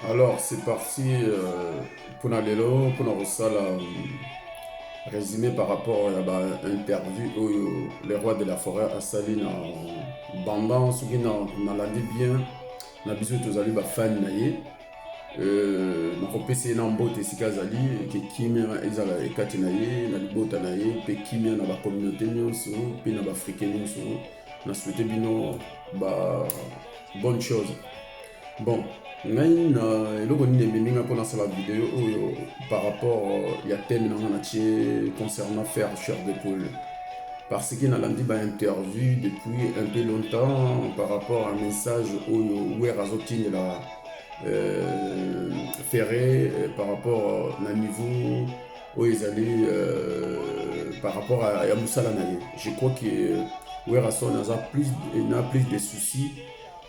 Alors, c'est parti euh, pour Nalelo, pour Narosala, euh, résumé par rapport à l'interview où euh, le roi de la forêt a sali na Bamba, ce qui n'a landé bien, na biso tozali ba fan na ye. Euh, nakopesa ye na mbote esika azali eke kimia ezala ekati na ye na libota na ye mpe kimia na bacommunauté nyonso mpe na baafrike nyonso na souhaite bino ba bonne chose bon ngai na eloko nini ememi ngai mpo nasala video oyo par rapport ya thème na ngai natie concernant faire cher de poule parce que nalandi bainterview depuis un peu longtemps par rapport à message oyo wer azotindela euh, ferre euh, par rapport na niveau oyo ezali euh, par rapport à, ya mosala na ye je crois que euh, werrason aza plus na plus de soucis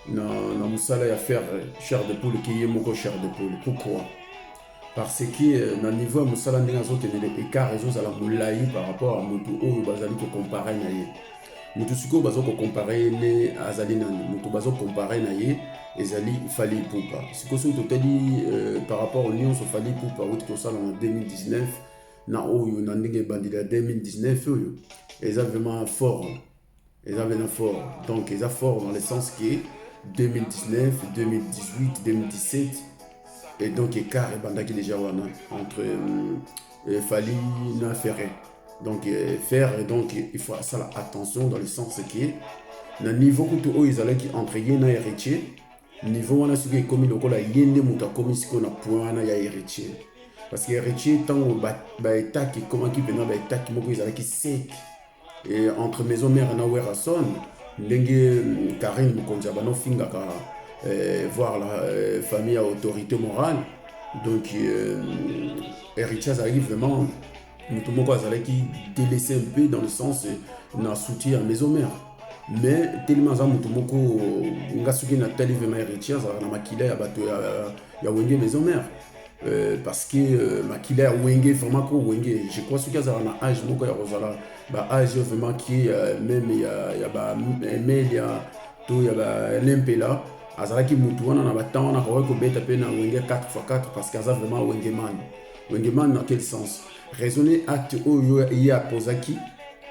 na, na mosala ya faire euh, cher de poule ke ye moko cher de poule pourquoi parce que na niveau ya mosala ndenge azokende le écart ezozala molai par rapport ya motu oyo bazali kocompare na ye moto sikoyo baza kokompare ye ne azali nani moto baza kokompare na ye ezali fali ipupa sikoyo soki totali euh, par rapport nyonso fali ipupa auti kosala na 2019 na oyo na ndenge ebandeli ya 2019 oyo eza vraiment fort eza vraiment fort donc eza fort dans le sens que 2019 2018 2017 et donc écart ebandaki déjà wana entre euh, euh fali na ferre donc euh, faire et donc il faut asala attention dans le sens que na niveau kutu oyo ezalaki entre ye na héritier niveau wana soki ekomi lokola ye nde moto akomi sikoyo na point wana ya héritier parce que héritier ntango baetake ba ekomaki mpena baetake moko ezalaki sec e, entre maison mare na werrason ndenge euh, karine mokonzi ya bana ofingaka euh, voir la euh, famille ya autorité morale donc euh, héritier azalaki vraiment moto moko azalaki delese un peu dans le sens na soutien ya maison mère mais telemi aza moto moko nga soki natali vraimen héritier azalaka na makila ya bato ya, ya wenge maison mère Euh, parce que euh, makila ya wenge vraiment ko wenge je crois soki azala na age moko ya kozala ba age vraiment ki euh, meme ya, ya ba emelia to ya ba lempela azalaki mutu wana na batemps wana akokaki kobeta mpe na wenge 4x4 parce que aza vraiment wenge mani Wengeman dans quel sens raisonner acte oyo ye apozaki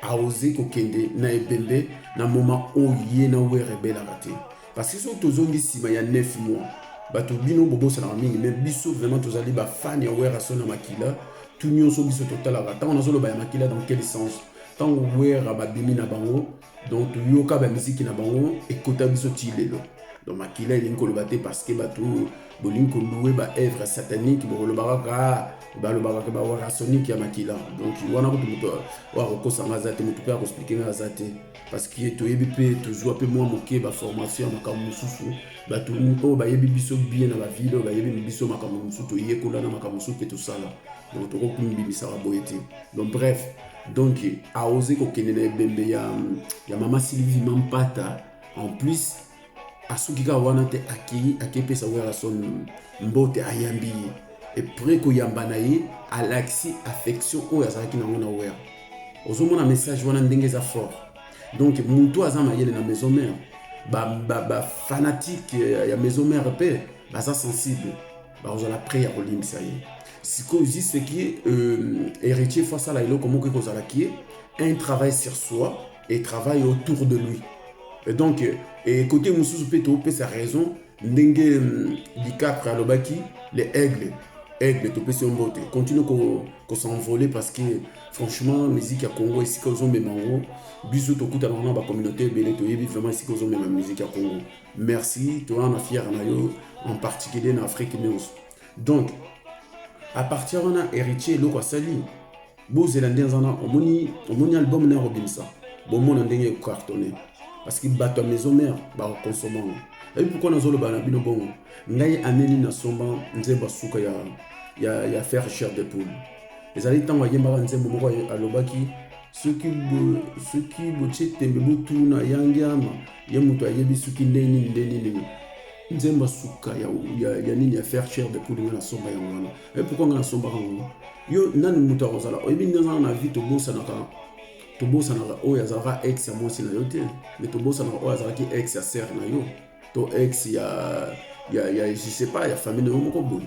aoze kokende na ebembe na moma oyo ye na were ebelaka te parce que soki tozongi nsima ya 9 mois bato bino bobosanaka mingi mais biso vraiment tozali bafani ya were aso na makila tu nyonso biso totalaka ntango nazoloba ya makila dans quel sens ntango were babimi na bango donc toyoka bamiziki na bango ekota biso ti lelo donc makila elingi koloba te parce que bato bolingi koloue baœuvre satanique bokolobaka kaka balobaka ke bawarasonique ya makila donc wana kutu moto oyo akokosa nga aza te moto mpe akoexplike nga aza te parce que toyebi mpe tozwa mpe mwa moke baformation ya makambo mosusu bato oyo bayebi biso bien na bavile oyo bayebi biso makambo mosusu toyekola na makambo mosusu mpe tosala donc tokoki komibimisaka boye te donc bref donc aoze kokende na ebembe ya, ya mama sylvie mampata en plus asuki kaka wana te akei akepesa werrason mbote ayambi ye epres koyamba na ye alakisi affection oyo azalaki nango na wera ozomona message wana ndenge eza fort donc motu aza mayele na maison mare bafanatike ba, ba ya maison mare mpe baza sensible bakozala près ya kolimbisa ye sikoyo ziseki euh, héritier fo asala eloko moko ekozala kie un travail sur soi et travail autour de lui et donc euh, et côté mosusu mpe topesa raison ndenge euh, dicapre alobaki le aigle aigle topesi yo mbote continue kosenvole ko parce que franchement musique ya congo esika ozomema yango biso tokutana na bacommunauté ebele toyebi vraiment esika ozomema musique ya congo merci toyana fiere na yo en particulier na afrique news donc à partir wana héritier eloko asali bozela nde aza na omoni omoni album na yakobimisa bomona ndenge ecartonne parce que bato ya maison mère bakokonsoma yango ebi pourkui nazoloba na bino bongo ngai aneli nasomba nzembo suka ya, ya, ya faire cher de poule ezali ntango ayembaka nzembo moko alobaki soki soki botie tembe botuna yangiama ye moto ayebi soki nde nini nde nini nzemba suka ya, ya, ya nini ya faire cher depuis linga na somba yango wana e pourquoi nga na sombaka yango yo nani moto akozala oyebi ndenge wana na vie tobosanaka tobosanaka oyo azalaka ex ya mwasi na yo te me tobosanaka oyo azalaki ex ya sere na yo to ex ya ya ya je sais pas ya famille na yo moko boye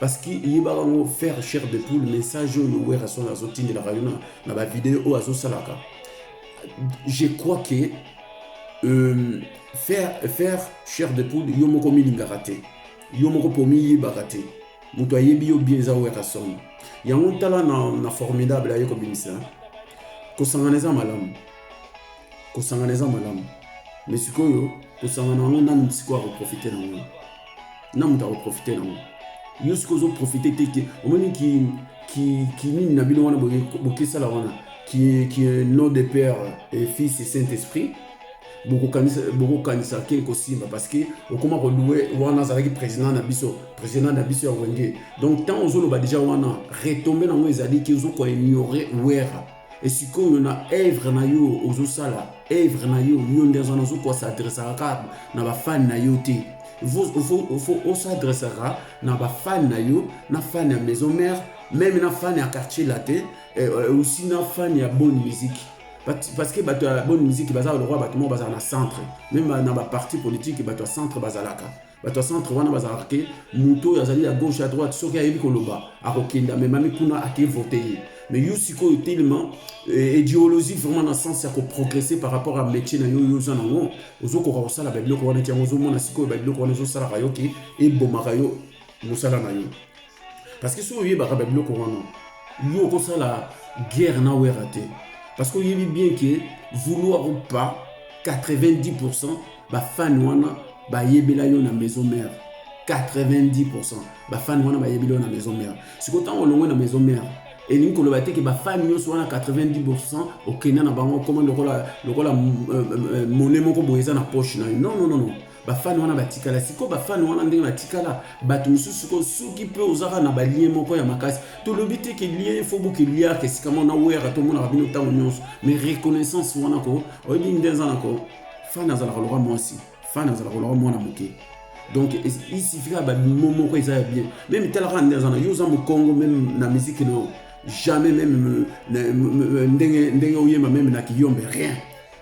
parce que eyebaka yango faire chair de poule message oyo werrason azotindelaka yo na bavideo oyo azosalaka je crois que euh, faire, faire chair de poule yo moko omilingaka te yo moko mpo omiyebaka te moto ayebi yo bien eza werrason yango tala na, na formidable aye kobimisa kosangana eza malamu kosangana eza malamu me sikoyo kosangana yango nanu sikoyo akoprofite na yango na moto akoprofite na yango yo sikoyo ozoprofite te ke omoni kinini na bino wana bokesala wana kie nom de père et fils et saint esprit bokokanisa ke kosimba parce que okoma koloue wana azalaki président na biso président na biso ya wenge donc ntango ozoloba deja wana retombe na yango ezali ke ozokoignore wera e sikoyo na evre na yo ozosala evre na yo yo nde aza nazo kosadresaka kaka na bafani na yo te faut osadresaka na bafani na yo na fani ya maison mare meme na fani ya quartier latin eh, eh, aussi na fani ya bonne musique parce que bato ya bonne musique bazalaka lokola bato moko bazala na centre meme na baparti politique bato ya centre bazalaka bato ya centre wana bazalaka te moto oyo azali ya gauche ya droite soki ayebi koloba akokende amemami kuna ake vote ye mais yo sikoyo telema eh, ideologie vraiment na sens ya koprogresse par rapport ya métier na yo yo oza nango ozokoka kosala babiloko wana ti yango ozomona sikoyo babiloko wana ezosalaka yo ke ebomaka yo mosala na yo parce que soki oyebaka babiloko wana yo okosala guerre na wera te parce que oyebi bien ke vouloir ou pas 90 pourcent bafani wana bayebela yo na maison mère 90 pourcent bafani wana bayebela yo na maison mère sikoyo ntango olongwe na maison mère elingi koloba te ke bafani nyonso wana 90 pourcent okenda na bango okoma lokola lokola euh, euh, euh, mone moko boye eza na poche na yo non non non non bafani wana batikala sikoyo bafani wana ndenge batikala bato mosusu sikoyo soki mpe ozaka na balien moko ya makasi tolobi te ke lien fo bokeliaka esika mona weyaka tomonaka bino ntango nyonso mais reconnaissance wana ko oyebi nde eza na ko fani azalaka loka mwasi fani azalaka loka mwana moke donc isifika babimo moko eza ya bien meme talaka nde aza na yo oza mokongo meme na miziki na yo jamais meme ndenge oyemba meme na kiyombe rien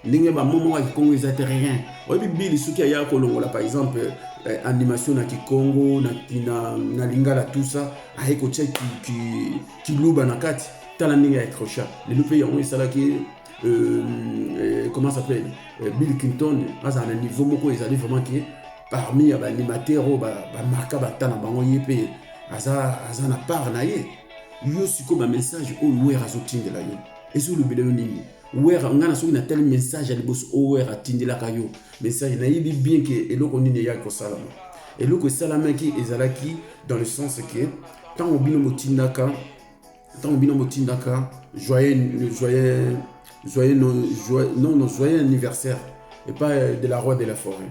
ndenge ba momo wa kikongo eza te rien oyebi bili soki aya kolongola par exemple eh, animation na kikongo na, na, na lingala tout ça aye kotya kiluba ki, ki na kati tala ndenge ya accrocha lelo mpe yango esalaki euh, euh, comment s'appelle euh, bill clinton azala na niveau moko ezali vraiment ke parmi ya baanimateur oyo bamarka bata na bango ye mpe aza, aza na part na ye yo sikoyo bamessage oyo wer azotindela yo ezolobela yo nini werra ngai na soki natali message ya liboso oyo werra atindelaka yo message nayebi bien ke eloko nini eyaki kosalama eloko esalamaki ezalaki dans le sens ke ntango bino botindaka ntango bino botindaka joyeux joyeux joyeux non non joyeux anniversaire epai de la roi de la forêt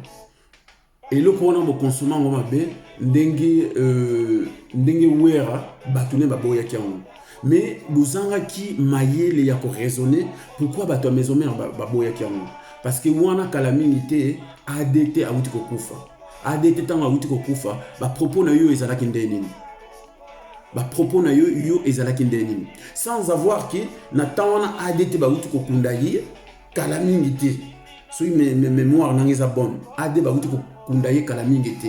Eloko wana bo consommer ngo mabe ndenge euh, ndenge wera bato ne baboyaki yango mais bozangaki mayele ya koraisonne pourquoi bato ya maison mare baboyaki yango parce que wana kala mingi te adt awuti kokufa adt ntango awuti kokufa bapropos na yo ezalaki ndenge nini bapropos na yo yo ezalaki ndenge nini sans avoir ke na ntan wana adt bawuti kokunda ye kala mingi te soki memoire nanga eza bonne ade bakuti kokunda ye kala mingi te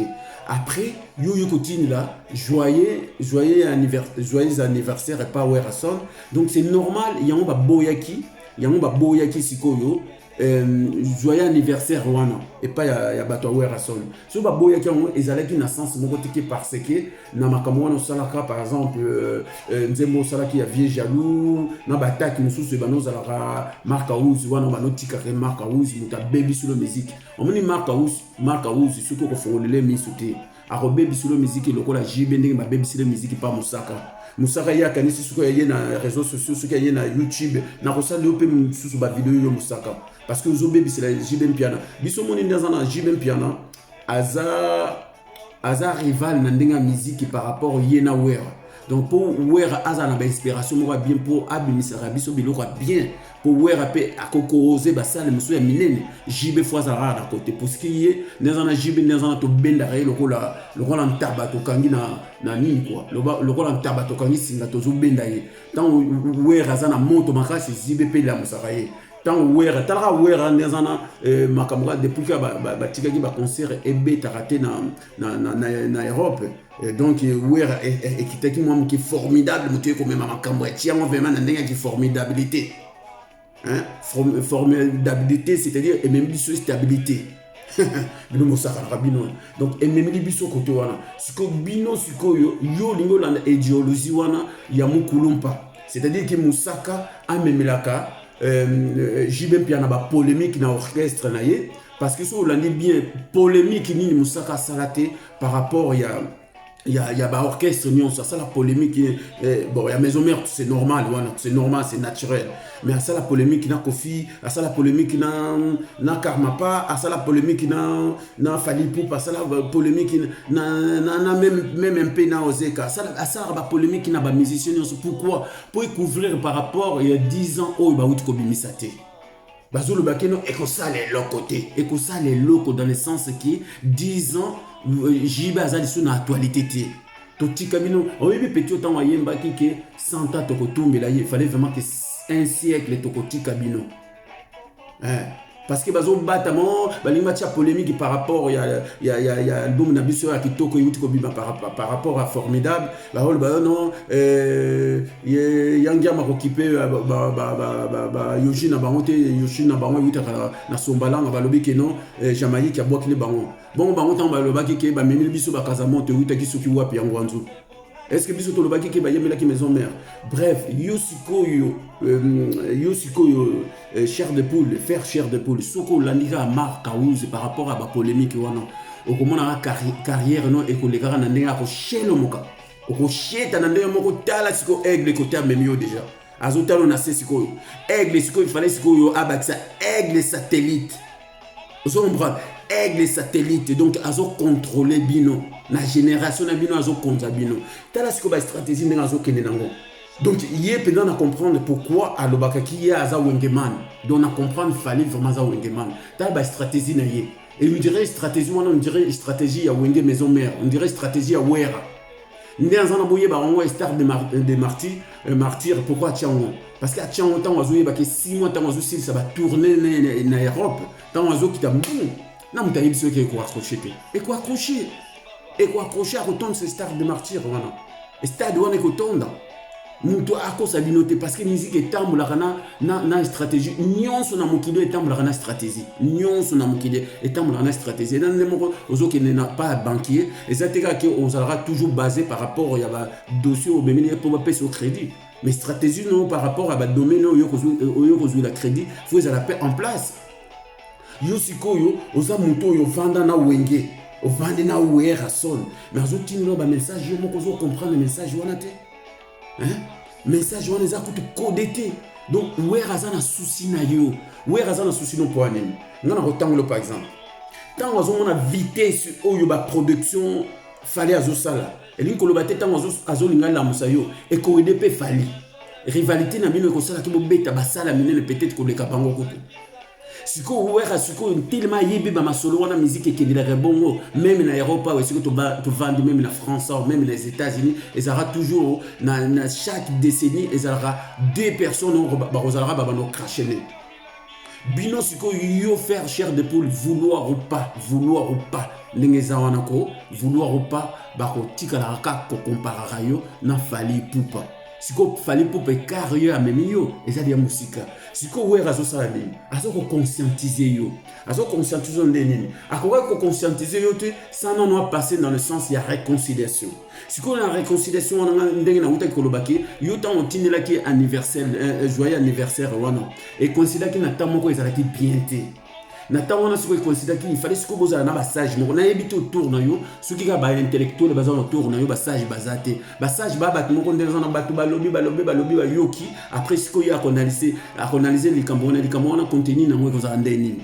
après yo oye kotindela joyeux joyeux anniversaire joyeux anniversaire epa werrason donc c'est normal yango baboyaki yango baboyaki sikoyo euh, joyeux anniversaire wana epai ya, ya bato ya werrason soki baboyaki yango ezalaki na sens moko tike parce que na makambo wana osalaka par exemple euh, euh, nzembo osalaki ya vieux jaloux na baatake mosusu ebanda ozalaka mark house wana banda otikaka mark house moto abebisi lo miziki omoni mark house mark house soki okofongolela miso te akobebisi lo miziki lokola jb ndenge babebisi le miziki pa mosaka mosaka ye akanisi soki aye na réseau sociaux soki aye na youtube nakosala yo mpe mosusu bavideo yo mosaka parce que ozo bebisela JB Mpiana biso moni nde aza na JB Mpiana aza aza rival na ndenge ya miziki par rapport ye na wera donc mpo wera azala na bainspiration moko ya bien mpo abimisaka biso biloko ya bien mpo wera mpe akokorose basale mosusu ya minene jb fo azalaka kaka na kote puski ye nde aza na jb nde aza na tobendaka ye lokola lokola ntaba tokangi na, na nini kua lokola ntaba tokangi singa tozobenda ye ntango wera aza na moto makasi jb mpe elamusaka ye ntango wera talaka wera nde aza na eh, makambo kaka depuis kaka batikaki ba, ba baconcert ebetaka te na, na, na, na, na europe eh, donc wera eh, eh, ekitaki mwa moke formidable moto ekomema makambo ati yango vraimen na ndenge ya kiformidabilité hein? formidabilité c'est-à-dire ememi biso stabilité bino bosakanaka bino wana donc ememeli biso kote wana sikoyo bino sikoyo yo olingi olanda ideologie wana ya mokulumpa c'est-à-dire ke mosaka amemelaka euh, euh jb mpia na bapolémique na orchestre na ye parce que soki olandi bien polémique nini mosaka asala te par rapport ya ya, ya ba orchestre nyonso asala polemique eh, eh, bon ya maison mère c'est normal wana c'est normal c'est naturel mais asala polemique na kofi asala polemique na na karmapa asala polemique na na falipup asala polemique na, na, na même, même un peu na ozeka asala asalaka ba polemique na ba musicien nyonso pourquoi pour couvrir par rapport ya 10 ans oyo bauti kobimisa te bazoloba ke non ekosala eloko te ekosala eloko dans le sens ke 10 ans euh, jb aza lisusu na actualité te totika bino oyebi peti otango ayembaki ke santa tokotumbela ye fallait vraiment ke un siècle tokotika bino eh. parce que bazobatama oh, balingi batya polémique par rapport ya, ya, ya, ya album na biso ya kitoko euti kobima par, par rapport ya formidable Baoyo bayo no eh, ye yangiama kokipe eh, bayoshi na bango te yoshi na bango ewutaka na sombalanga balobi ke no eh, jamaïque abwakili bango bongo bango ntango balobaki ke bamemeli biso bakazamonte ewutaki soki wapi yango anzu eske biso tolobaki ke bayemelaki maison mère bref yo sikoyo euh, yo sikoyo Euh, chair de poule faire chair de poule soki olandi kaka mark kawuzi par rapport ya bapolémike wana okomonaka carrière no ekolekaka na ndenge ya koshelomoka okosheta na ndenge moko tala sikoyo aigle kote amemi yo deja azotala na se sikoyo aigle sikoyo ifale sikoyo abakisa aigle satellite ozo comprendre aigle satellite donc azokontrole bino na génération na bino azokonza bino tala sikoyo bastratégie ndenge azokende nango Donc ye mpenza na comprendre pourquoi alobaka ki ye aza wengeman donc na comprendre fali vraiment aza wengeman tala ba stratégie na ye et on dirait stratégie wana on dirait stratégie ya wenge maison mère on dirait stratégie ya wera nde aza na boyeba yango star de, mar de martyr, euh, martyr pourquoi atya yango parce que atya yango ntango azoyebaki 6 mois ntango azosilisa batourne na europe ntango azokita mbuu na moto ayebi soki ekoaccroche te ekoaccroche ekoaccroche akotondisa stade de martyr wana stade wana ekotonda moto akosa bino te parce que musique etambolaka na, na, na stratégie nyonso na mokili etambolaka na stratégie nyonso na mokili etambolaka na stratégie eza nde moko ozokende na pa banquier eza te kaka ke ozalaka toujours basé par rapport ya badossier obemeli ye mpo bapesa yo crédit mais stratégie no par rapport ya badomaine oyo oyo kozwila crédit fo ezala mpe en place yo sikoyo oza moto oyo ofanda na wenge ofandi na werrason me azotindela bamessage yo moko ozokomprendre message wana te message wana eza kutu kode te donc wer aza na susi na yo wer aza na susi no mpo ya nini ngai nakotangolo par exemple ntango azomona vitesse oyo baproduction fale azosala Elingi koloba te tango azo linga lamusa yo ekowede pe fali. Rivalite na bino ekosala ki bobeta basala minene peut-être koleka bango kutu. Sikoyo wera sikoyo ntelema ayebi ba masolo wana miziki ekendelaka bongo meme na Europa awa esiko tovandi meme na France awa meme na Etats-Unis ezalaka toujours na, na chaque décennie ezalaka deux personnes bakozalaka babanda okrashene bino sikoyo yo faire chair de poule vouloir ou pas vouloir ou pas ndenge eza wana ko vouloir ou pas bakotikalaka kaka kokomparaka yo na fali pupa sikoyo fali pupa ekare yo amemi yo ezali ya mosika sikoyo were azosala nini aza koconscientize yo aza koconscientize yo nde nini akokaki koconscientize yo te sans nono apasse dans le sens ya réconciliation sikoyo na réconciliation wana nga ndenge nawutaki koloba ke yo ntango otindelaki anniversaire eh, eh, joyeux anniversaire wana ekonsidaki na ntango moko ezalaki bien te na ntango wana soki ekonsidaki ifale sikoyo bozala na basage moko nayebi te autour na yo soki kaka baintellectuele baza na autour na yo basage baza te basage ba bato moko nde baza na bato balobi balobi balobi bayoki après sikoyo ye akonalise likambo wana likambo wana konteni nango ekozala nde nini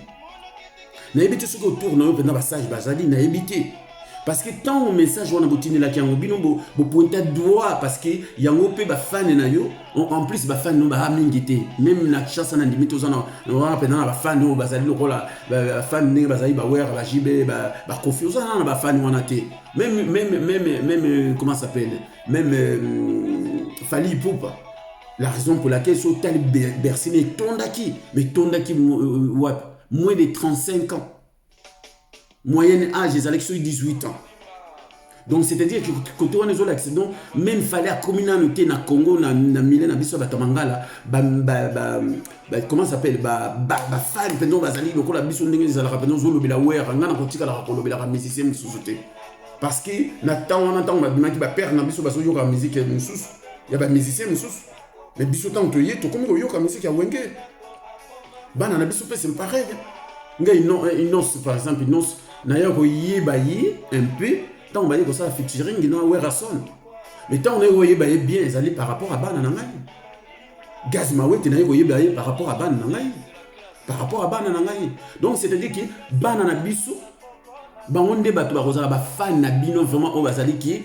nayebi te soki autour na yo mpenza basage bazali nayebi te parce que ntango message wana botindelaki yango bino bopointa bo droit parce que yango mpe bafane na yo en plus bafane no baa mingi te meme na kinshasa na ndimi toza wana mpenza na bafane oyo bazali lokola bafane ndenge bazali bawera bajibe bakofi ba oza nana na bafane wana te meme meme meme meme comment s'appelle meme euh, fali ipupa la raison pour laquelle so otali bercine etondaki mais etondaki euh, euh, wapi moins de 35 ans moyenne âge ezalaki soki 18 ans donc c'est-à-dire côté wana ezolakisa donc même fale akomi nano te na congo na, na mile na biso bato ya mangala ba, ba, ba, ba, comment s'appelle bafane ba, ba, ba mpenza bazali lokola biso ndenge ezalaka mpenza ozolobela wera ngai nakotikalaka kolobelaka musicien mosusu te parce que na ntango wana ntango babimaki bapere na biso bazoyoka miziki mosusu ya bamusicien mosusu Mais biso ntango toye tokomi koyoka musique ya wenge bana na biso mpe c'est pareil nga inonce par exemple inonce naye koyeba ye un peu ntango baye kosala featuring na werason mais ntango naye koyeba ye bien ezali par rapport ya bana na ngai gaz mawete naye koyeba ye par rapport ya bana na ngai par rapport ya bana na ngai donc c'est à dire ke bana na biso bango nde bato bakozala bafane na bino vraiment oyo bazali ki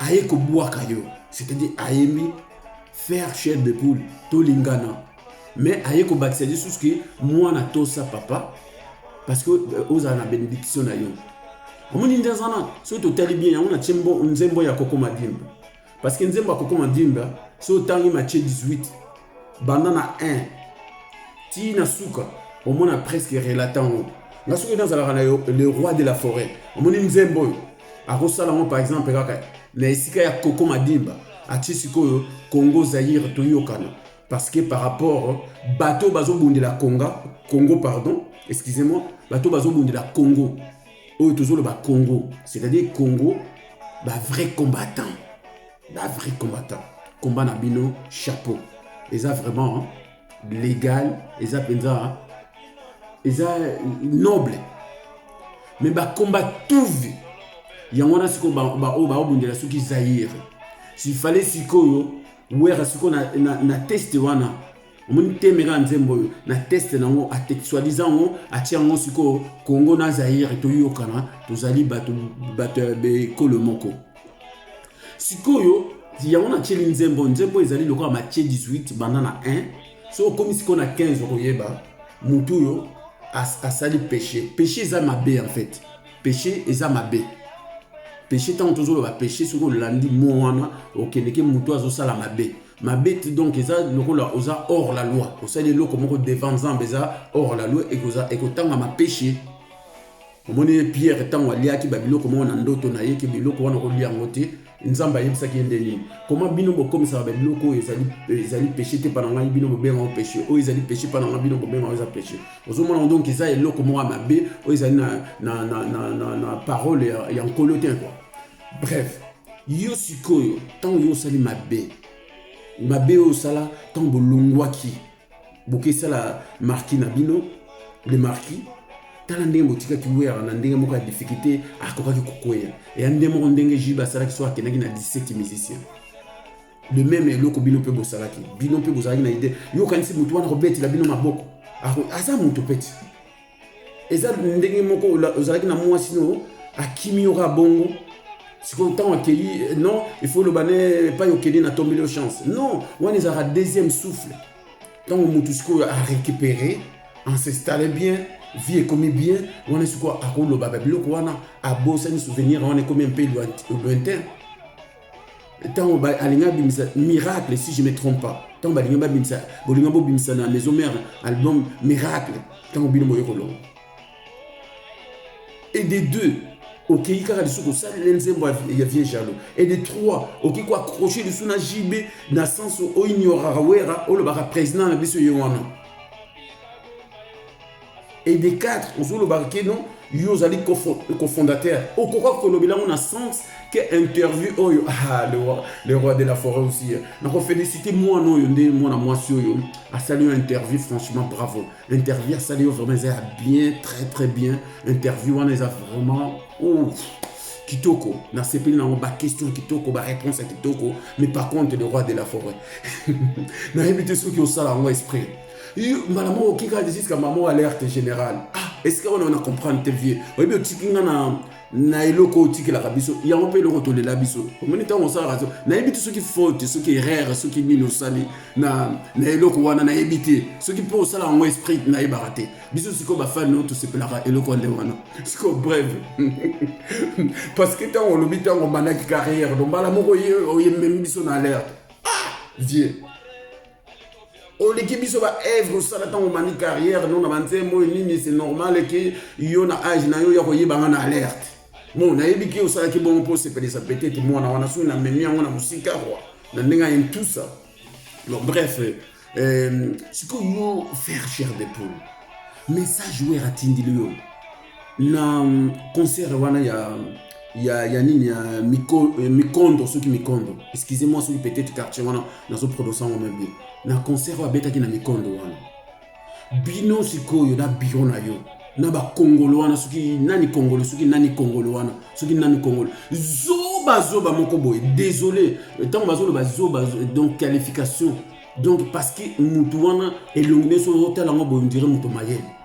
aye kobwaka yo c'est-à-dire ayembi faire chair de poule tolingana mais aye kobakisa lisusu ke mwana tosa papa parce que euh, ozala na benediction na yo omoni nde aza na soki totali bien yango na tie nzembo ya koko madimba parce que nzembo ya koko madimba soki otangi matie 18 banda na 1 ti na suka omona presque relata yango nga soki nazalaka na yo le roi de la forêt omoni nzembo oyo akosala yango par exemple kaka na esika ya koko madimba atie sikoyo congo zaire toyokana parce que par rapport bato bazobundela konga congo pardon excusez moi bato bazobundela congo oyo tozoloba congo c'est-à-dire congo ba vrai combattant ba vrai combattant combat na bino chapeau eza vraiment hein? legal eza mpenza eza noble me bakomba tuvi yango wana sikoyo baoyo baobundela soki zaire sifale sikoyo wera sikoyo na, na, na teste wana omoni teme kaka nzembo oyo na teste nango swadisa yango atia yango sikoyo kongo na zaire toyokana tozali bato bato ya ekolo moko sikoyo yango natyeli nzembo nzembo ezali lokola matie 18 banda na 1 so okomi sikoyo na 15 okoyeba motu oyo asali péché péché eza mabe en fait péché eza mabe péché ntango tozoloba péché soki olandi mo wana okendeke motu azosala mabe mabe donc eza lokola oza hors la loi osali eloko moko devant nzambe eza hors la loi ekotangama péché omoni ye pierre ntango aliaki babiloko moko na ndoto na ye ke biloko wana okolia yango te nzambe ayebisaki ye nde nini koma bino bokomisaka babiloko oyo ezali, ezali peshe te mpana ngai bino bobenga yango peshe oyo ezali peshe mpana ngai bino bobenga yango eza peshe ozomona yango donk eza eloko moko ya mabe oyo ezali na, na, na, na, na, na parole ya, ya nkolo te kua bref yo sikoyo ntango yo osali mabe mabe oyo osala ntango bolongwaki bokesala marki na bino le marki tala ndenge botikaki wera na ndenge moko ya difficulté akokaki kokweya eya nde moko ndenge jube asalaki so akendaki na 17 musicien de meme eloko bino mpe bosalaki bino mpe bozalaki na ide yokanisi motu wana kobetela bino maboko aza moto peti eza ndenge moko ozalaki na mwasi no akimi yo kaka bongo sikoyo ntango akei eh, non il faut oloba ne epai okende na tombeli yo chance non wana ezalaka deuxième souffle ntango motu sikoyo arécupere ancestale bien vie ekomi bien wana sikoyo akoloba babiloko wana abosani souvenir wana ekomi mpe lointain ntango alingi abimisa miracle si je me trompe pas ntango balingi babimisa bolinga bobimisa na maison mère album miracle ntango bino boye kolonga et des deux okei kaka lisusu kosalela nzembo ya vieux jalo et de trois okoki koaccroche lisusu na jb na sens oignoraka wera olobaka président na biso ye wana et des cadres ozolobaka ke non yo ozali cofondateur okoka kolobela yango na sens ke interview oyo ah, le, roi, le roi de la forêt aussi eh. nakofélicite mwana oyo nde mwana mwasi oyo asali yo interview franchement bravo interview asali yo vraiment eza ya bien très très bien interview wana eza vraiment oh, kitoko nasepeli nango baquestion kitoko baréponse ya kitoko mais par contre le roi de la forêt nayebi te soki osala yango esprit mbala moko oki kaka juska mamo alerte générale ah esika wana wana comprendre te vie oyebi otiki nga na na eloko otikelaka biso yango mpe eloko tolela biso omoni ntango osalaka so nayebi te soki faute soki erreur soki nini osali na, na eloko wana nayebi te soki mpo osala yango esprit nayebaka te biso sikoyo bafani no tosepelaka eloko nde wana sikoyo breve parce que ntango olobi ntango obandaki carrière dombala moko oyememi biso na alerte ah vieux oleki biso ba œuvre osala ntango omani carrière no na banzembo oyo nini c'est normal eke yo na age na yo ya koyebanga na alerte bon nayebi ki osalaki bongo mpo osepelisa peut-être mwana wana soki namemi yango na mosika kwa na ndenge aye tout ça bon bref euh, sikoyo yo faire chair de poule message wer atindili yo na concert wana ya ya ya nini ya eh, mikondo soki mikondo excusez moi soki peut-être quartier wana nazo prononce yango meme bien na concert oyo abetaki na mikondo wana bino sikoyo na biro na yo na bakongolo wana soki nani kongolo soki nani kongolo wana soki nani kongolo zoba zoba moko boye désolé ntango bazoloba zoba donc qualification donc parce que motu wana elongi nyonso otala yango boye ondire moto mayele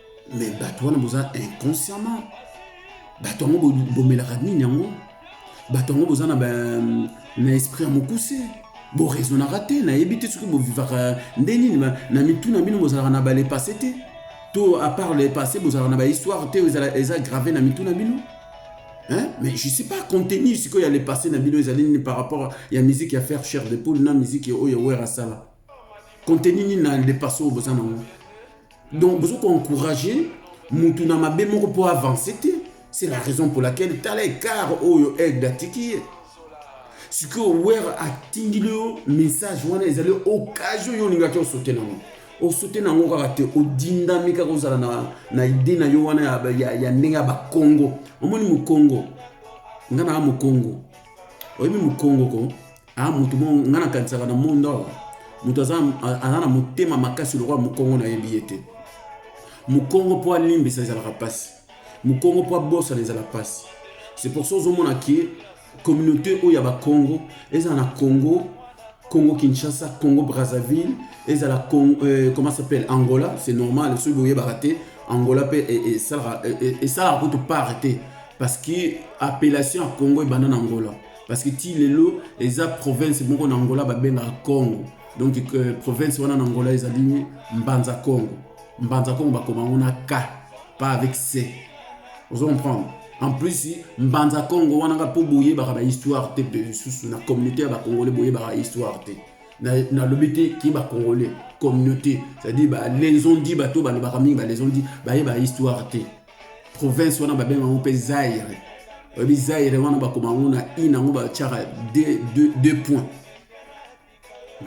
mais bato wana boza inconsciemment bato yango bomelaka nini yango bato yango boza na na esprit ya mokuse boraisonnaka te nayebi te soki bovivaka nde nini na mitu na bino bozalaka na balepasse te to apart lepasse bozalaka na bahistoire te eza grave na mitu na bino Hein? mais je sais pas contenu sikoyo ya lepasse na bino ezali nini par rapport ya musique ya faire cher de poule na musique oyo wer asala contenu nini na lepasse oyo boza nango donc bozo ko encourager mutu na mabe moko po avance te c'est la raison pour laquelle tala ekar oyo aigle atiki ye sikoyo wer atindili yo message wana ezali occasion yo olingaki osote nango osote nango kaka te odindami kaka ozala na, na ide na yo wana ya, ya, ya ndenge ya bakongo omoni mokongo nga naa mokongo oyebi mokongo ko Ah, mutu mo nga na kanisaka na monde awa mutu aza aza na motema makasi lokola mokongo na yebi ye te mokongo mpo alimbisa ezalaka mpasi mokongo mpo abosana ezala mpasi c'est pour ça ozomona ke communauté oyo ya bakongo ezala na congo congo kinshasa congo brazzaville ezala euh, comment s'appelle angola c'est normal soki boyebaka te angola mpe esalaka e, e, e, kutu part te parce que appellation ya congo ebanda na angola parce que ti lelo eza province moko na angola babengaka congo donc euh, province wana na angola ezali mbanza congo mbanza congo bakoma yango na k pas avec c ozo comprendre en plus mbanza congo wana nga mpo boyebaka bahistoire te mpe lisusu na communauté ya bacongolais boyebaka histoire te nalobi te ki bacongolais communauté c'est-à-dire balesondi bato balobaka mingi balesondi bayeba histoire te province wana babenga yango mpe zaire oyebi zaire wana bakoma yango na i na yango batyaka deux points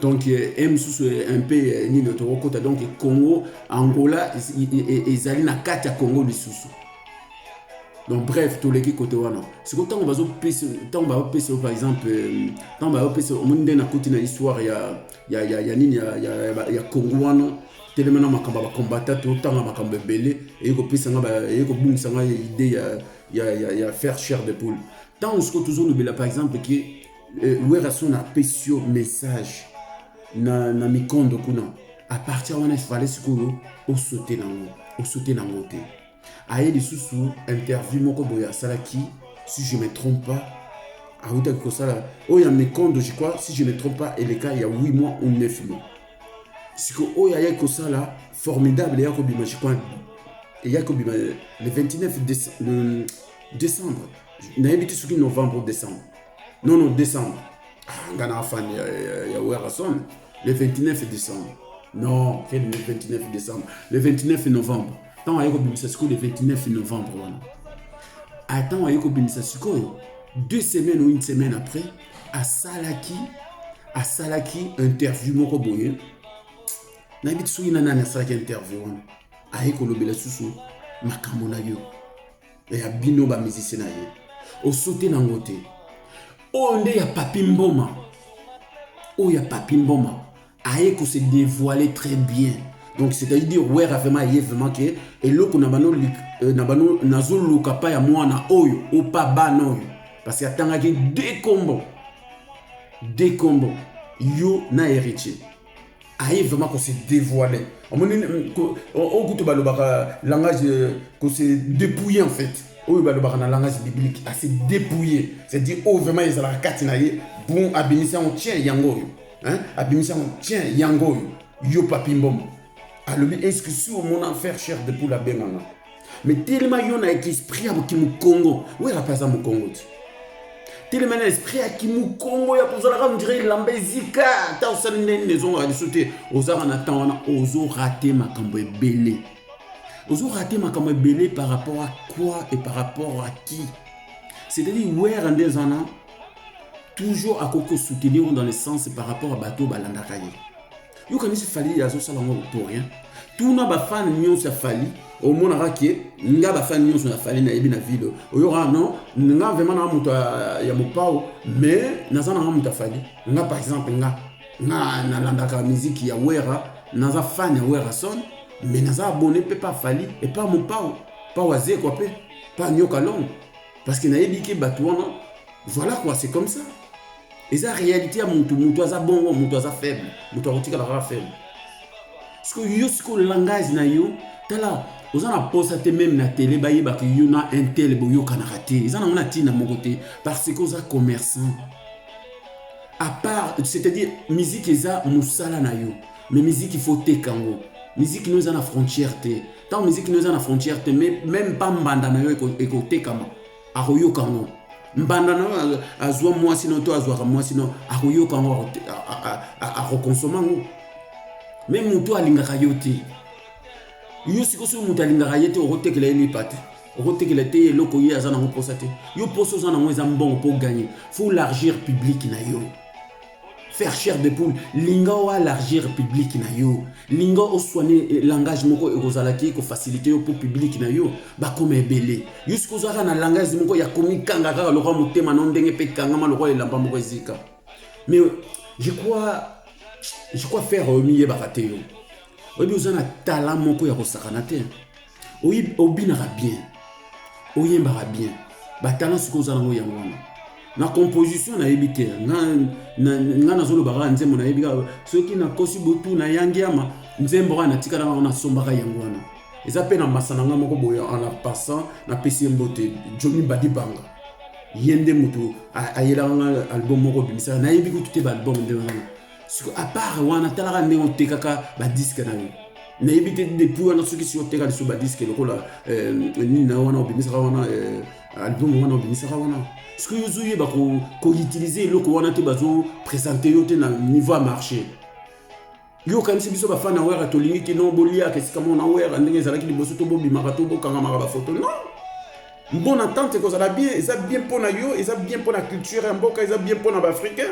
donc ye eh, mosusu eh, un peu eh, nini tokokota donc congo angola ezali na kati ya congo lisusu donc bref toleki kote wana sikoyo ntango bazopesa ntango bazopesa par exemple ntango bazopesa omoni nde nakuti na histoire ya ya, ya, ya nini ya, ya, ya, ya kongo wana telema na makambo ya bakombata totanga makambo ebele eye kopesa nga eye kobungisa nga idée ya, ya, ya, ya faire chair de poule ntango sikoyo tozolobela par exemple ke euh, werrason apesi yo message na, na mikondo kuna à partir wana efale sikoyo osote nango osote nango te aye lisusu interview moko boye asalaki si je me trompe pas awutaki kosala oyo ya mekondo je crois si je me trompe pas eleka ya 8 mois ou 9 mois siko oyo ayaki kosala formidable eyaki kobima je crois eyaki kobima le 29 déce- le décembre nayebi te soki novembre ou décembre non non décembre ah, nga na fan ya, ya, ya werrason le 29 décembre non quel le 29 décembre le 29 novembre ntango aye kobimisa sikoyo le 29 novembre wana ah, ntango aye kobimisa sikoyo deux semaines ou une semaine après asalaki asalaki interview moko boye nayebi ti soki na nani asalaki interview wana aye kolobela susu makambo na yo ya bino bamizisi na ye osote nango te oyo nde ya papi mboma oyo ya papi mboma aye ko se devoiler très bien donc c'est à dire wera vraiment aye vraiment ke eloko na bano euh, na bano nazoluka pa ya mwana oyo o pa bana oyo parce que atangaki de kombo de kombo yo na héritier aye vraiment ko se dévoiler omoni oyo kutu balobaka langage euh, ko se dépouiller en fait oyo balobaka na langage biblique ase dépouiller c'est à dire oyo vraiment ezalaka kati na ye bon abimisi yango tien yango oyo hein abimisi yango tiens yango oyo yo papi mbombo alobi eske si omona affaire cher de poule abenga nga me telema yo na esprit ya kimukongo wera mpe aza mokongo ti telema na esprit ya kimukongo ya kozalaka ondire elamba ezika ata osali ndeni ezongaka liso te ozaka na temps wana ozorate makambo ebele ozorate makambo ebele par rapport à quoi et par rapport à qui c'est-à-dire wera nde eza na toujours akoki kosoutenir ngo dans le sens par rapport ya bato balandaka ye yokanisi fali azosala ngo pour rien tuna bafane nyonso ya fali omonaka ke nga bafane nyonso ya fali nayebi na ville oyoka non nga vraiment naa moto ya mopao mais naza nanga moto ya fali nga par exemple nga nga nalandaka miziki ya wera naza fane ya werason mais naza abone mpe pa fali epa mopao pa wazekwa mpe pa nyoka longo parce que nayebi ke bato wana voilà quoi c'est comme ça eza réalité ya mutu mutu aza bongo mutu aza faible mutu akotikala kaka faible sikoyo yo sikoyo langage na yo tala oza na posa te meme na tele bayebaka yo na intel boyokanaka te eza nango na ntina moko te parce que oza commerçant à part c'est-à-dire musique eza mosala na yo mais musique faut teka yango musique no eza na frontière te Tant musique no eza na frontière te mais même pas mbanda na yo ekotekama akoyoka ngo mbanda na yo azwa mwasi no to azwaka mwasi no akoyoka ngo akokonsoma ngo me motu alingaka yo te yo sikoyo soki moto alingaka ye te okotekela ye lipa te okotekela te eloko ye aza nango mposa te yo mposa oza nango eza mbongo mpo ganye fo largir publike na yo Faire chair de poule, linga o alargir public na yo, linga o soigner eh, langage moko ekozalaki ko faciliter yo pour public na yo bakoma ebele. Yo sikoyo ozalaka na langage moko ya komikanga kaka lokola motema na ndenge mpe ekangama lokola elamba moko ezika. Mais je crois, je crois faire omiyebaka te yo. Oyebi oza na talent moko ya kosakana te. obinaka bien oyembaka bien batalent sikoyo oza nango yango wana na composition nayebi te nga nazoloba kaka nzembo nayebi kaka soki nakosi botu na yangiama nzembo kaka natikala kaka nasombaka yango wana eza mpe na masa na nga moko boye en la passant napesi ye mbote jomi badi banga ye nde moto ayelaka nga album moko obimisaka nayebi kutu te baalbum nde wana siko apart wana talaka ndenge otekaka badiske na yo nayebi te depuis wana soki si oteka lisusu badiske lokola euh, nini na wana obimisaka wana euh, album wana obimisaka wana soki ozoyeba koutilize eloko wana te bazopresente yo te na niveau ya marché yo okanisi biso bafana wera tolingi kino boliaka esika mona wera ndenge ezalaki liboso to bobimaka to bokangamaka bafoto non mpo na tante ekozala bien eza bien mpo na yo eza bien mpo na culture ya mboka eza bien mpo na baafricain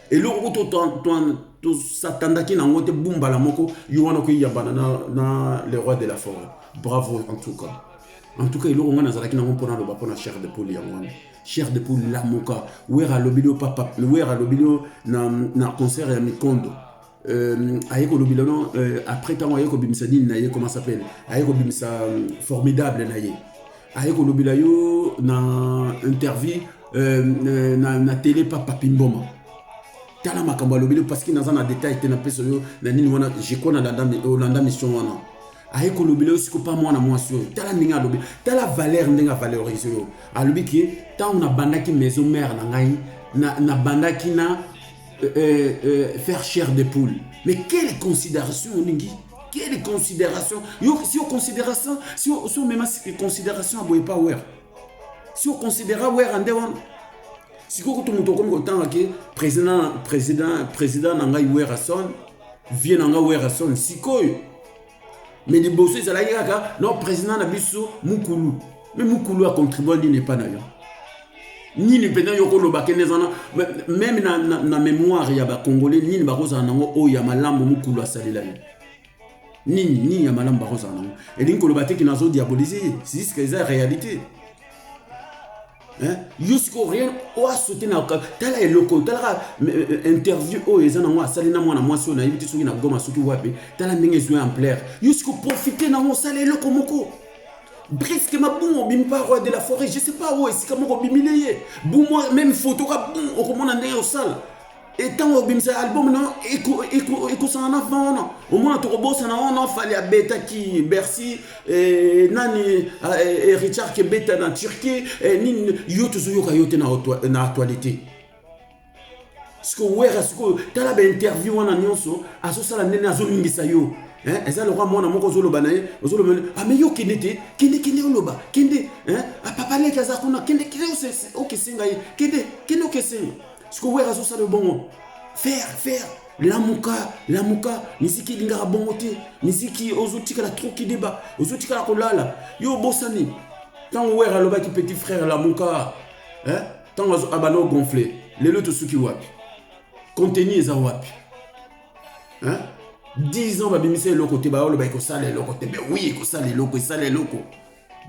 eloko kutu tosatandaki na yango te bumbala moko yo wana okoyambana na, na le roi de la forêt bravo en tout cas en tout cas eloko ngai nazalaki nango mpo naloba mpo na cher de poule yango wana cher de poule lamuka wera alobeli yo papa wera alobeli yo na, na concert ya mikondo Euh, aye kolobela no euh, après ntango aye kobimisa nini na ye comment s'appelle aye kobimisa euh, formidable na ye aye kolobela yo na interview euh, euh na, na tele pa papi mboma tala makambo alobeli parce que naza na détail te napesa yo na nini wana jeko olanda mission wana aye kolobela yo siko pa mwana mwasi oyo tala ndenge alobi tala valeur ndenge avalorise yo alobi ke ntango nabandaki maison mare na ngai nabandaki na, na, na euh, euh, euh, faire chair de poule mais quelle considération olingi quelle considération yo si yo considération si yo si omema considération aboye pa wer si yo considéra wer ande wana sikoyo kutu moto okomi kotanga ke président président président na ngai werrason vie na ngai werrason sikoyo mais liboso ezalaki kaka no président na biso mukulu mais mukulu acontribua nini epai na yo nini mpenza yo okoloba kende eza na meme na, na, na mémoire ya bacongolais nini bakozala nango oyo ya malamu mukulu asalela yo nini nini ya malamu bakozala nango elingi koloba te ke nazo diabolise ye siska eza réalité Hein? yo sikoyo rien oa saute na tala eloko oyo talaka interview oyo eza nango asali na mwana mwasi oyo nayebi te soki na goma soki wapi tala ndenge ezwi ampleur yo sikoyo profite nango osala eloko moko briske mabungo obimi pa roi de la forêt je sais pas oyo esika moko obimile ye bumwa meme photo ka bum okomona ndenge osala etango obimisa album na ekosana na vent wana omona tokobosana wana fali abetaki bercy eh, nani eh, eh, richard kebeta na turquie nini yo tozoyoka yo te na actualité sikoyo wera sikoyo tala bainterview wana nyonso azosala ndene azolingisa yo eza lokola mwana moko ozoloba na ye ozoloba ame ah, yo kende te kende kende oloba kende apapaleki ah, aza kuna kende kende okesenga ye kende kende okesenga sikoyo wera azosala yo bongo faire faire lamuka lamuka miziki elingaka bongo te miziki ozotikala trop kideba ozotikala kolala yo obosani ntango wera alobaki petit frère lamuka ntango eh? abanda ogonfle lelo tosuki wapi contenu eza wapi eh? 10 ans babimisa eloko te baoloba ekosala eloko te mais oui ekosala eloko esala eloko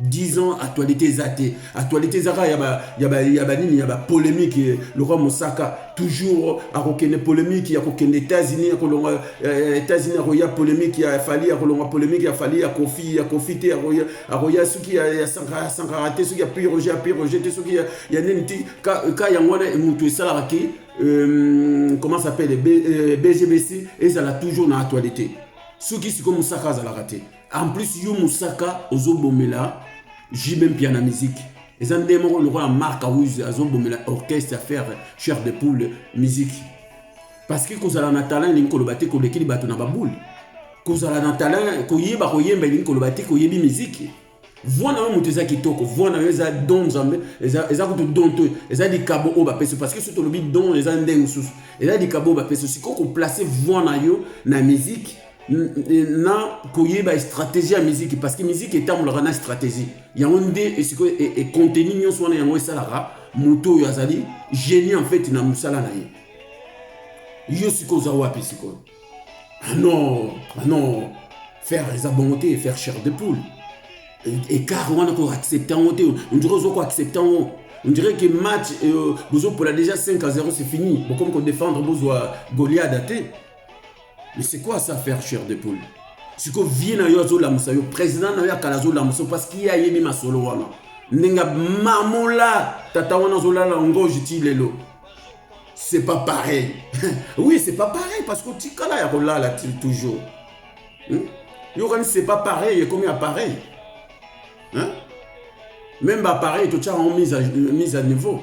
10 ans actualité eza te actualité eza kaka ya banini ya bapolémique eh, lokwa mosaka toujours akokende polémique ya kokende états-unis ya kolonga eh, états-unis akoya polémique ya fali ya kolonga polémique ya fali ya kofi ya kofi te akoya soki ya sankara te soki ya pi roger ya pi roger te soki ya nini ti ka yango wana motu esalaka ki euh, comment s'appelle bgbc euh, ezala toujours na actualité soki sikoyo mosaka azalaka te En plus yo Moussaka ozo bomela JB Mpiana musique. Eza nde moko lokola Marc Awuz azo bomela orchestre à faire chair de poule musique. Parce que kozala na talent elingi koloba te kolekeli bato na baboule. Kozala na talent koyeba koyemba elingi koloba te koyebi musique. Voix na yo moto eza kitoko, voix na yo eza don Nzambe, eza eza kutu don to, eza likabo oyo bapesi parce que soki tolobi don eza ndenge mosusu. Eza likabo oyo bapesi sikoyo ko placer voix na yo na musique na koyeba stratégie ya miziki parce que miziki etambolaka na stratégie yango nde sikoyo ekonteni e, e nyonso wana yango esalaka moto oyo azali génie en fait na mosala na ye yo sikoyo oza wapi sikoyo ah non ah non faire eza bongo te faire chair de poule écart e, wana koaccepte yango te ondire ozo koaccepte yango on dirait que match euh, bozopola déjà 5 à 0 c'est fini bokomi kodefendre bozwa goliada te Mais c'est quoi ça faire chair de poule siko vie na yo azolamusa yo président na yo akala azolamusa parce qu'il ye ayebi masolo wana ndenge mamola tata wana azolala ngoji ti lelo c'est pas pareil oui c'est pas pareil parce que otikala ya kolala toujours hmm? yokani c'est pas pareil ekomi appareil hein? même baappareil totyaka yango mise à, mise à niveau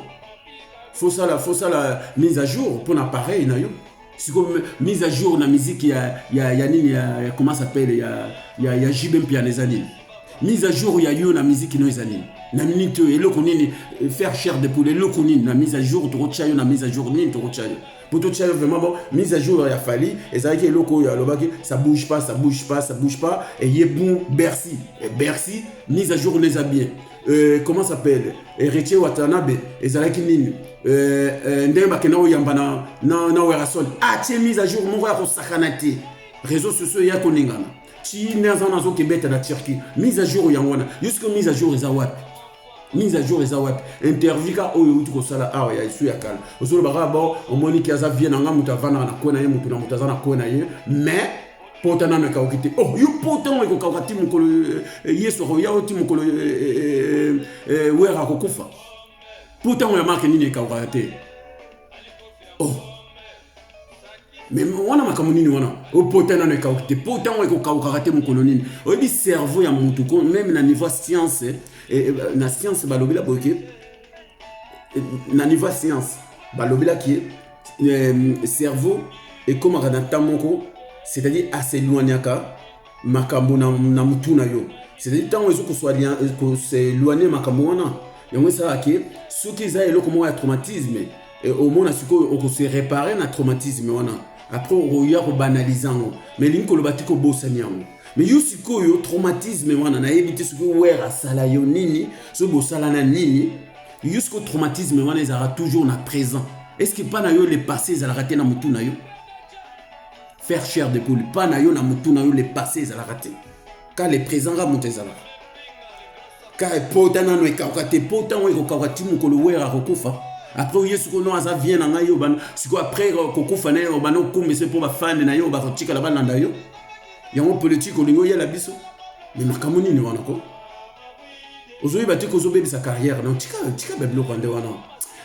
fosala fosala mise à jour mpo na appareil na yo siko mise à jour na musique ya ya ya nini ya, ya comment s'appelle ya ya ya JB Mpiana eza nini mise à jour ya yo na musique no eza nini na minute oyo eloko nini euh, faire chair de poule eloko nini na mise à jour tokotya yo na mise à jour nini tokotya yo mpo totya yo vraiment bon mise à jour ya fali ezalaki eloko oyo alobaki ça bouge pas ça bouge pas ça bouge pas eye bon bercy bercy mise à jour neza bien Euh, comment s'appelle héritier watanabe ezalaki nini euh, euh, ndenge bakenda koyamba na, na, na werason atie ah, mise à jour moko ya kosakana te réseau sociaux eya koningana chine aza wana azokebeta na turquie mise à jour yango wana jusque mise à jour eza wapi mise à jour eza wapi interview ka oyo euti kosala awa ya esu ya kala ozoloba kaka bao omoni ki aza vie na ngai moto avandaka na kwe na ye moto na moto aza na kwe na ye mais pota nanu ekauki te oh yo pota yango ekokauka ti mokolo eh, eh, yesu akoya o ti mokolo eh, were akokufa pota yango ya marke nini ekaukaka te oh me wana makambo nini wana opota nano ekauki te po ntango ekokaukaka te mokolo nini oyebi cerveau ya motu ko meme na niveau ya science na science balobela boye ke na niveau ya science balobelaki ye euh, cerveau ekomaka na temps moko c'est-à-dire aseloignaka makambo na, na mutu na yo c'est-à-dire ntango ezo koseloigne makambo wana yango esalaka ke soki eza eloko moko ya traumatisme eh, omona sikoyo okose repare na traumatisme wana après okoya kobanalize yango mais elingi koloba te kobosani yango me yo sikoyo traumatisme wana nayebi te soki wer asala yo nini soki bosalana nini yo sikoyo traumatisme wana ezalaka toujours na présent eske mpa na yo le passé ezalaka te na motu na yo faire cher de poule mpa na yo na motu na yo le passé ezalaka te ka le présent ka moto ezalaka kaka pota nano ekauka te po ntango ekokauka ti mokolo were akokufa apres oye sikoyo no aza vie na ngai yo sikoyo apres kokufa na ye obanda okumisa mpo bafande na yo bakotikala balanda yo yango politike olingi oyela biso me makambo nini wana ko ozoyeba te kozobebisa carrière na tika tika babiloko nde wana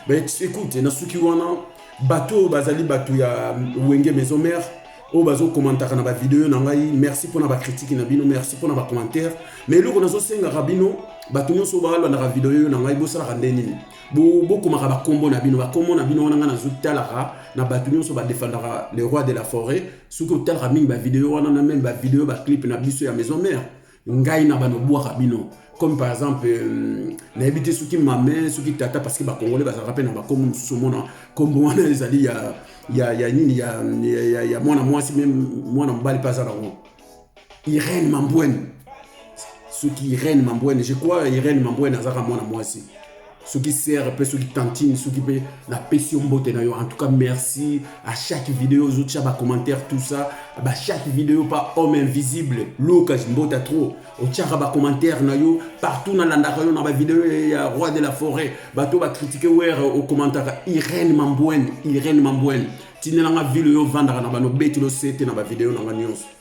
ekute nasuki wana bato oyo bazali bato ya wenge maison mare oyo bazo commentaka na ba video na ngai merci pona ba critique na bino merci pona ba commentaire mais eloko nazo sengaka bino bato nyonso balandaka video yo na ngai bosalaka nde nini bokomaka bo bakombo na bino bakombo na bino wana ngai nazotalaka na bato nyonso badefendaka le roi de la forêt soki otalaka mingi bavideo wana na meme bavideo baclipe na biso ya maison mare ngai na bana obwaka bino comme par exemple euh, nayebi te soki mame soki tata parce que bakongole bazalaka mpe na bakombo mosusu omona kombo wana ezali ya, ya, ya nini ya, ya, ya, ya mwana mwasi me mwana mobali mpe aza nango irene mambwene soki irene mambwene je crois irene mambwene azalaka mwana mwasi soki sere mpe soki tantine soki mpe napesi yo mbote na yo en tout cas merci à chaque video ozotia bacommentaire tout ça ba chaque video pa homme invisible lucas mbota trop otiaka bacommentaire na yo partout nalandaka yo na bavideo ya roi de la forêt bato bakritike were okomantaka irene mambwene irene mambwene tindelanga ville oyo ovandaka na bano beti losete na bavideo na nga nyonso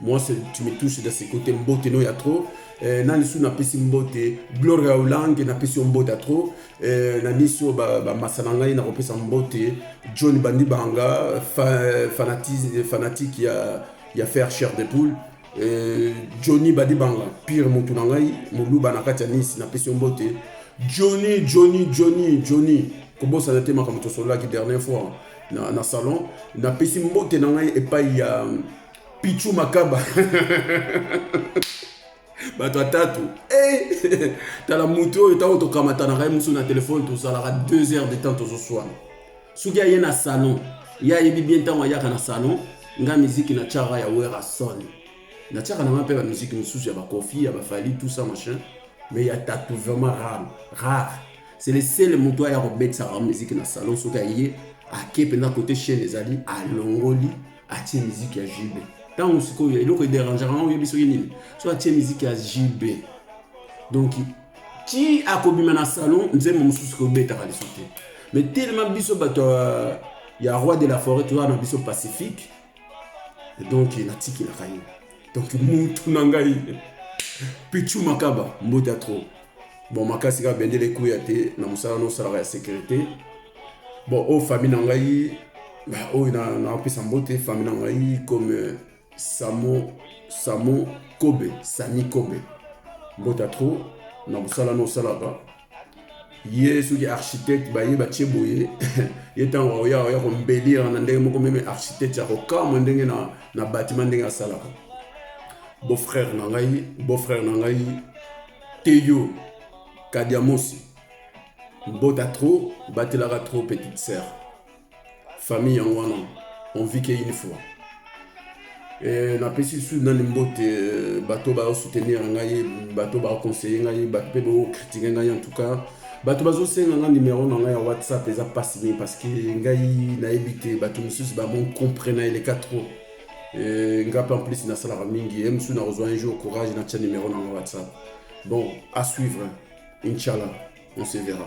Moi, tu me touches de ce côté mbote no ya trop. Eh, nani su napesi mbote gloria olange napesi yo mbote ya trop eh, na nisi oyo bamasa ba na ngai nakopesa mbote john bandi banga fa, fanatisme, fanatique ya, ya faire cher de poule eh, johnny bandi banga pire motu na ngai moluba na kati ya nisi napesi yo mbote johnny johnny johnny johnny kobosana te makambo tosololaki dernière fois na, na salon napesi mbote na ngai epai ya pichu makaba bato atatu hey! Eh! tala motu oyo ntango tokamatanaka ye mosusu na telefone tozalaka 2 heures de temps tozoswana soki aye na salon ye ayebi bien ntango ayaka na salon nga miziki na tiaka ya werason na tiaka nanga mpe bamiziki mosusu ya bakofi ya bafali tout ça machin mais ya tatu vraiment rare rare c'est le seul moto aya kobetisaka miziki na salon soki aye ake mpenza kote chaine ezali alongoli atie miziki ya jb ntango sikoyo eloko ederangeaka yango oyebi soki nini so atie miziki ya jb donc ti akobima na salon nzembo mosusu kobetaka lisusu te mais telema biso bato ya roi de la forêt toza na biso pacifique donc natikelaka ye donc mutu na ngai pichu makaba mbote ya trop bon makasi kaka bendele ekuya te na mosala nosalaka ya sécurité bon oyo famille na ngai oyo napesa mbote famille na ngai comme euh, samo samo kobe sami kobe mbote ya trop na mosala nosalaka ye soki architecte baye batie boye ye ntango aoya oya kombelira na ndenge moko meme architecte ya kokamwa ndenge na, na batima ndenge asalaka beau-frère na ngai beau-frère na ngai teyo kadiamosi mbota trop batelaka trop petite sœur famille yango wana on vit que une fois eh, napesi lisusu nani mbote eh, bato baosoutenir ngai bato baoconseille ngai bato mpe baokritike ngai en tout cas bato bazosenga ngai numero na ngai ya whatsapp eza mpasi mingi parce que ngai nayebi te bato mosusu bamoncompre na eleka trop eh, ngai mpe en plus nasalaka mingi ye mosusu nakozwa un jour courage natya numero na ngai whatsapp bon à suivre inchallah on se verra